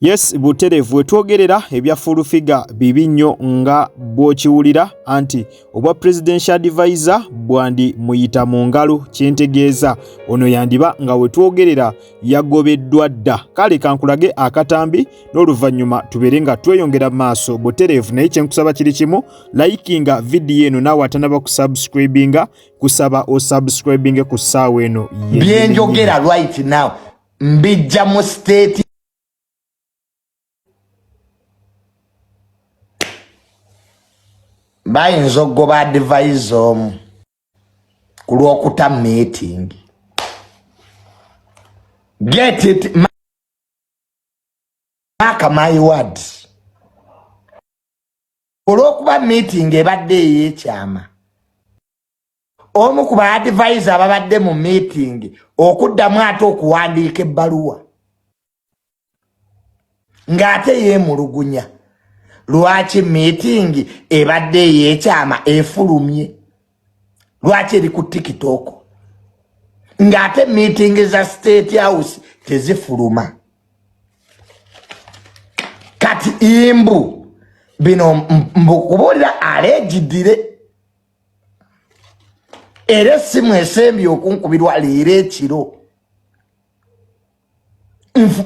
Yes buterevu wetwogerera ebya full figure bibi nnyo nga bw'okiwulira anti obwa presidential advisor bwandi muyita mu ngalo kyentegeeza ono yandiba nga wetwogerera yagobeddwa dda kale kankulage akatambi n'oluvannyuma tubeere nga tweyongera maaso buterevu naye kyenkusaba kiri kimu likinga vidiyo eno naawe atanaba kusubscribinga kusaba osubscribinge ku ssaawa eno byenjogera right now mbijja mu state bayinza okugoba adivaiza omu ku lwokuta meeting get it maka my word olwokuba meeting ebadde eyekyama omu ku ba advisor ababadde mu meeting okuddamu ate okuwandiika ebbaluwa ng'ate yeemulugunya lwaki meeting ebadde ey'ekyama efulumye lwaki eri ku tikitooko ng'ate meeting za state house tezifuluma kati imbu bino mbukubuulira aleegidire era essimu esembye okunkubirwa leero ekiro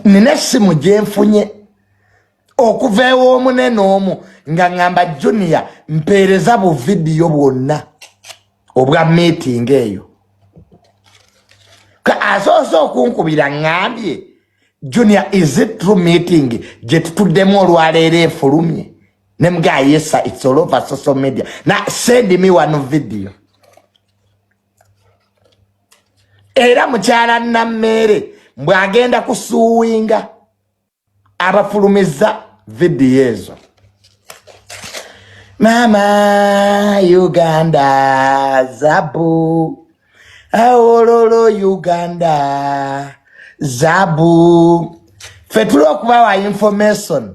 nina essimu gyenfunye okuva ew'omunene omu nga ŋŋamba junior mpeereza bu vidiyo bwonna obwa meeting eyo asoose okunkubira ŋŋambye junior is it true meeting gye tutuddemu olwaleero efulumye ne mga yesa it's all over social media na send me one video era mukyala nammeere mbwe agenda kusuwinga abafulumiza vidiyo ezo mama uganda zabu awololo uganda zabu fetula okubawa information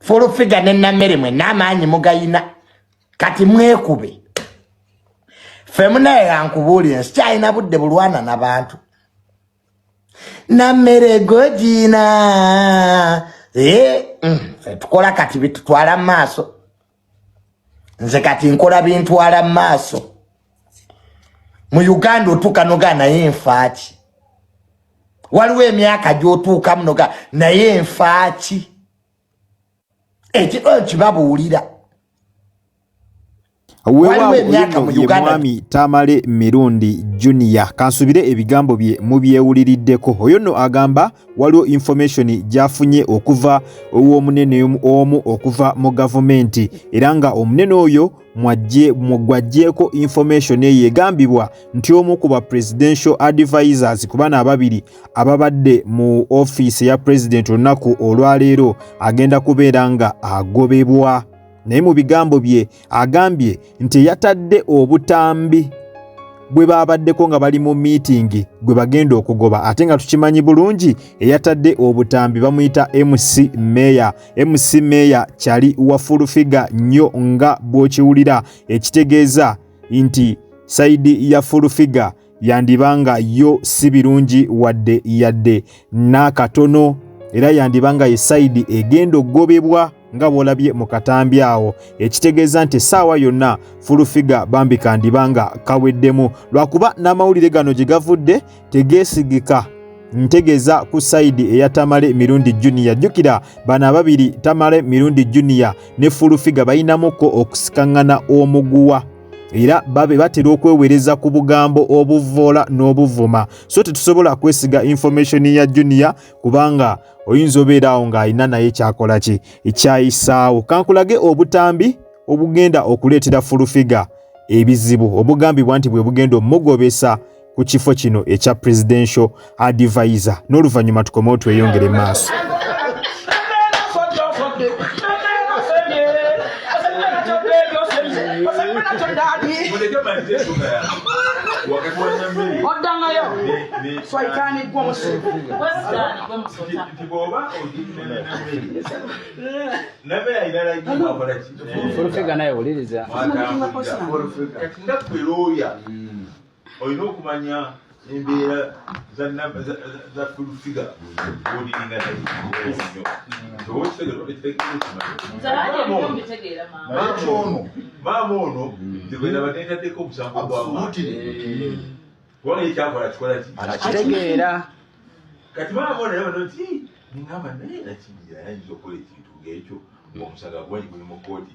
fulufiga ne namere mwe namaanyi mugayina kati mwekube fe munaye yankubuulire nsikyalina budde bulwana na bantu namere gojina e, eh, mm, tukola kati bitutwala mu maaso nze kati nkola bintwala maaso mu uganda otuuka noga naye nfaaki waliwo emyaka gyotuukamu noga naye nfaaki ekikolo kibabuulira wewawmwami tamale mirundi junior kansubire ebigambo bye mubyewuliriddeko oyo no agamba waliwo information gyafunye okuva ew'omunene omu okuva mu gavumenti era nga omunene oyo gwajjeeko information eyo egambibwa nti omu ku ba presidential advisors ku bana ababiri ababadde mu ofiisi eya president olunaku olwaleero agenda kubeera nga agobebwa naye mu bigambo bye agambye nti yatadde obutambi bwe baabaddeko nga bali mu miitingi gwe bagenda okugoba ate nga tukimanyi bulungi eyatadde obutambi bamuyita mc meya mc meya kyali wa fulufiga nnyo nga bw'okiwulira ekitegeeza nti sayidi ya fulufiga yandiba nga yo si birungi wadde yadde n'akatono era yandiba nga ye sayidi egenda okugobebwa nga bwolabye mu katambi awo ekitegeeza nti essaawa yonna fulufiga bambi kandiba nga kaweddemu lwakuba n'amawulire gano gye gavudde tegeesigika ntegeza ku sayidi eya tamale mirundi juniya jjukira bano ababiri tamale mirundi juniya ne fulufiga balinamukko okusikaŋŋana omuguwa era babe batera okwewereza ku bugambo obuvvoola n'obuvuma so tetusobola kwesiga information ya junior kubanga oyinza obeera awo ng'alina naye kyakola ki ekyayisaawo kankulage obutambi obugenda okuleetera fulufiga ebizibu obugambibwa nti bwe bugenda omugobesa ku kifo kino ekya presidential advisor n'oluvannyuma tukomewo tweyongere maaso oddangayo swaitaaniggwa omusibu fulufega naye wuliriza olina okumanya embeera za fulfiga oliringa nayeono maama ono tebwena batendaddeko omusango gwakubona ekyakola kikola kitegeera kati maama ono yabano nti ngamba naye nakinyira yayinza okukola ekintu ngaekyo ngaomusaga gwanyi guli mu kooti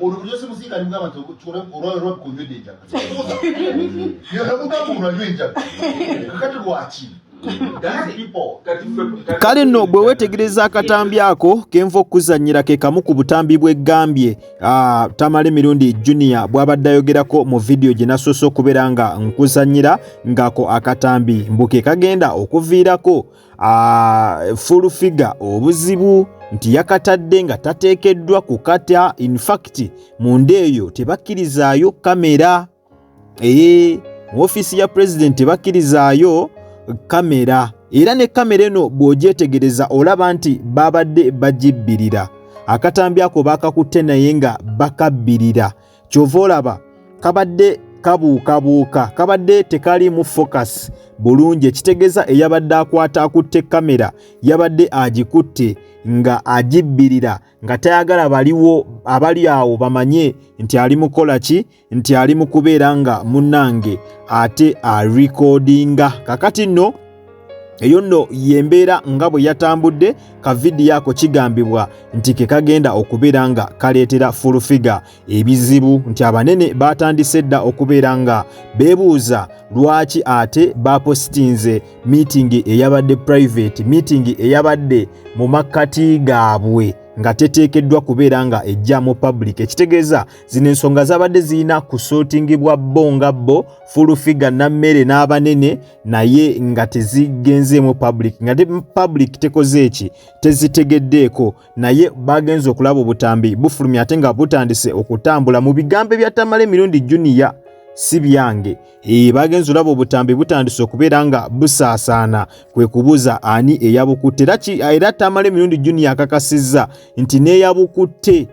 olubulyo simusinga alimu abantu olwalwa bukunywedde enjaga yonamugamba olwanywa enjaga kakati lwaki kale nno bwe weetegereza akatambi ako kenva okukuzannyira ke kamu ku butambi bw'eggambye ah, tamala emirundi junior bw'abadde ayogerako mu vidiyo gye nasoose okubeera nga nkuzannyira ng'ako akatambi mbu ke kagenda okuviirako uh, full figure obuzibu nti yakatadde nga tateekeddwa kukata infact mu nda eyo tebakkirizaayo kamera ee mu ofiisi ya president tebakkirizaayo kamera era ne kamera eno bw'ogyetegereza olaba nti baabadde bagibbirira akatambi ako baakakutte naye nga bakabbirira kyova olaba kabadde kabuukabuuka kabadde tekalimu focus bulungi ekitegeza eyabadde akwata akutte kamera yabadde agikutte nga agibbirira nga tayagala baliwo abali awo bamanye nti ali mukola ki nti ali mu kubeera nga munnange ate arikodinga kakati nno eyo nno y'embeera nga bwe yatambudde ka vidiyo ako kigambibwa nti ke kagenda okubeera nga kaleetera fulufiga ebizibu nti abanene baatandise dda okubeera nga beebuuza lwaki ate baapositinze miitingi eyabadde purayiveti miitingi eyabadde mu makkati gaabwe nga teteekeddwa kubeera nga ejja mu public ekitegeeza zino ensonga zabadde zirina kusootingibwa bo nga bo fulufiga nammere n'abanene naye nga tezigenzeemu public nga public tekoze eki tezitegeddeeko naye bagenze okulaba obutambi bufulumya ate nga butandise okutambula mu bigambo ebyatamala emirundi juniya si byange ee bagenze olaba obutambi butandise okubeera nga busaasaana kwe kubuuza ani eyabukutte era tamala emirundi juniya akakasizza nti n'eyabukutte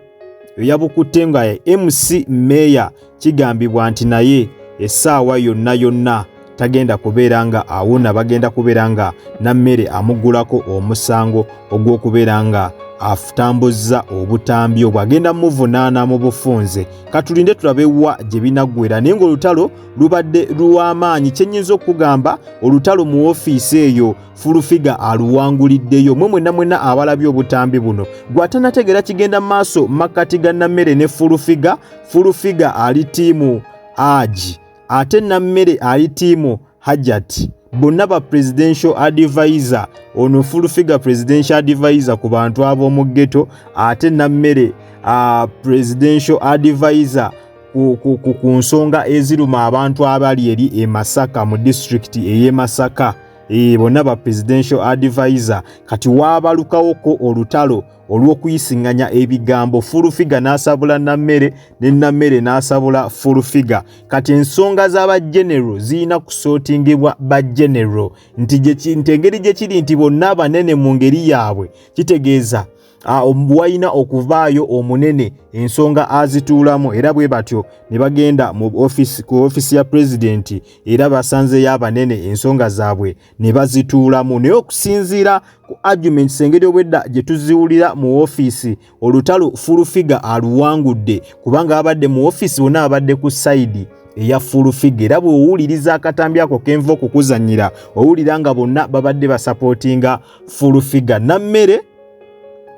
eyabukutte nga MC Meeya kigambibwa nti naye essaawa yonna yonna tagenda kubeera nga awona bagenda kubeera nga nammere amugulako omusango ogw'okubeera nga atambuzza obutambi obwo agenda muvunaana mu bufunze katulinde tulabe wa gye binaggwera naye ng'olutalo lubadde lw'amaanyi kye nnyinza okugamba olutalo mu ofiisi eyo fulufiga aluwanguliddeyo mwe mwena mwena abalabye obutambi buno gwatanategeera kigenda maaso makkati ga nammere ne fulufiga fulufiga ali tiimu agi ate nammere ali tiimu hajati bonna ba presidential advisor ono fulufiga presidential advisor ku bantu ab'omu ggeto ate nammere uh, presidential advisor ku nsonga eziruma abantu abali eri e masaka mu disitulikiti ey'e masaka ee eh, bonna ba presidential advisor kati waabalukawoko olutalo olw'okuyisinganya ebigambo fulufiga n'asabula nammere ne nammere n'asabula fulufiga kati ensonga z'aba genero zirina kusootingibwa ba genero nti nti engeri gye kiri nti bonna abanene mu ngeri yaabwe kitegeeza Ah, wayina okuvaayo omunene ensonga azituulamu era bwe batyo ne bagenda mu ofisi ku ofisi ya pulezidenti era basanzeyo abanene ensonga zaabwe ne bazituulamu naye okusinziira ku arguments engeri obwedda gye tuziwulira mu ofisi olutalo fulufiga aluwangudde kubanga abadde mu ofisi bona abadde ku sayidi eya fulufiga era bw'owuliriza akatambi ako kenva okukuzanyira owulira nga bonna babadde basapootinga fulufiga nammere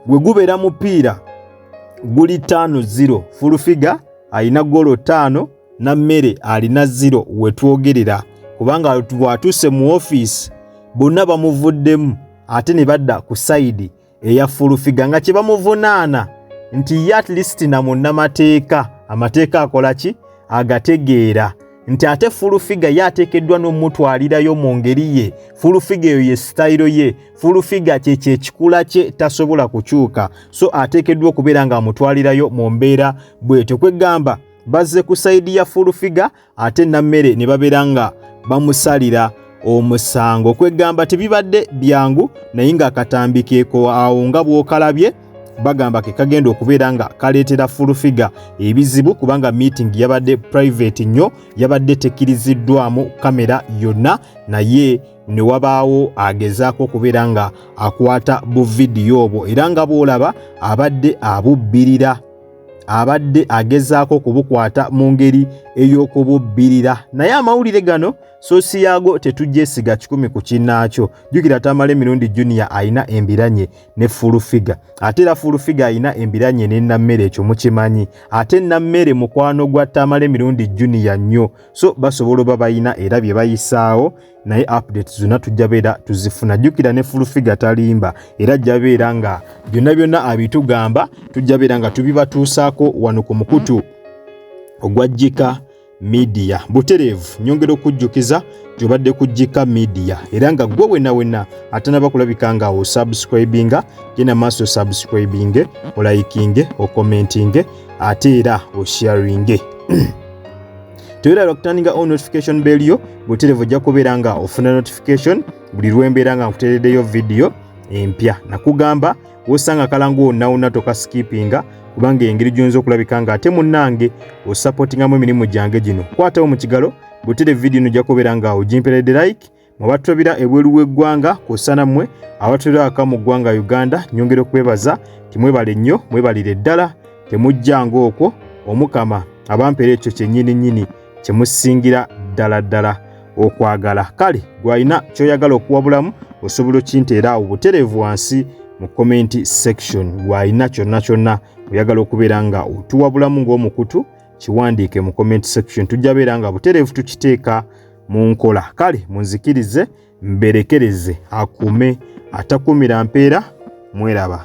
gwe gubeera mupiira guli taano ziro fulufiga alina golo taano na mmere alina ziro wetwogerera kubanga bwatuuse mu ofiisi bonna bamuvuddemu ate ne badda ku sayidi eya fulufiga nga kye bamuvunaana nti ye at least na munnamateeka amateeka akola ki agategeera nti ate fulufiga ye ateekeddwa n'omutwalirayo mu ngeri ye fulufiga eyo ye sitayiro ye fulufiga kyekyo ekikula kye tasobola kukyuka so ateekeddwa okubeera ng'amutwalirayo mu mbeera bwetyo kwegamba bazze ku sayidi ya fulufiga ate nammere ne babeera nga bamusalira omusango kwegamba tebibadde byangu naye ng'akatambi keeko awo nga bw'okalabye bagamba ke kagenda okubeera nga kaleetera fulufiga ebizibu kubanga meeting yabadde private nnyo yabadde tekiriziddwamu kamera yonna naye ne wabaawo agezaako okubeera nga akwata buvidiyo obwo era nga bw'olaba abadde abubbirira abadde agezaako okubukwata mu ngeri ey'okububbirira naye amawulire gano sosi yaago tetugyesiga kikumi ku kinnaakyo jjukira tamala emirundi junior alina embiranye ne full figure ate era full figure alina embiranye ne nammere ekyo mukimanyi ate nammere mukwano gwa tamala emirundi junior nnyo so basobola oba balina era bye bayisaawo naye update zonna tujja beera tuzifuna jjukira ne full figure talimba era ajja beera nga byonna byonna abitugamba tujja beera nga tubibatuusaako wano ku mukutu ogwajjika midiya butereevu nyongera okujjukiza gyobadde ku jika midiya era nga gwe wena wena atanaba kulabika nga osubscribinga genda maaso subscribinge olayikinge okomentinge ate era osharinge toyera lwakutandinga o notification bell yo butereevu ojja kubeera nga ofuna notification buli lwembeera nga nkuteredeyo vidiyo empya nakugamba wosanga kalangu wonawona tokasikipinga kubanga engeri gyonza okulabika nga ate munange osapotingamu emirimu gyange gino kwatawo mu kigalo butere vidiyo no jakubeera nga ogimperede like mubatulabira ebweru w'eggwanga kwosana mmwe abatulira aka mu ggwanga uganda nyongera okwebaza timwebale nnyo mwebalire ddala temujjanga okwo omukama abampera ekyo kyenyini nyini kye musingira ddala ddala okwagala kale gwalina kyoyagala okuwabulamu osobola okinteera awo butereevu wansi mu komenti section gwalina kyonna kyonna oyagala okubeera nga otuwabulamu ng'omukutu kiwandiike mu comment section tujja beera nga butereevu tukiteeka mu nkola kale munzikirize mberekereze akume atakuumira mpeera mweraba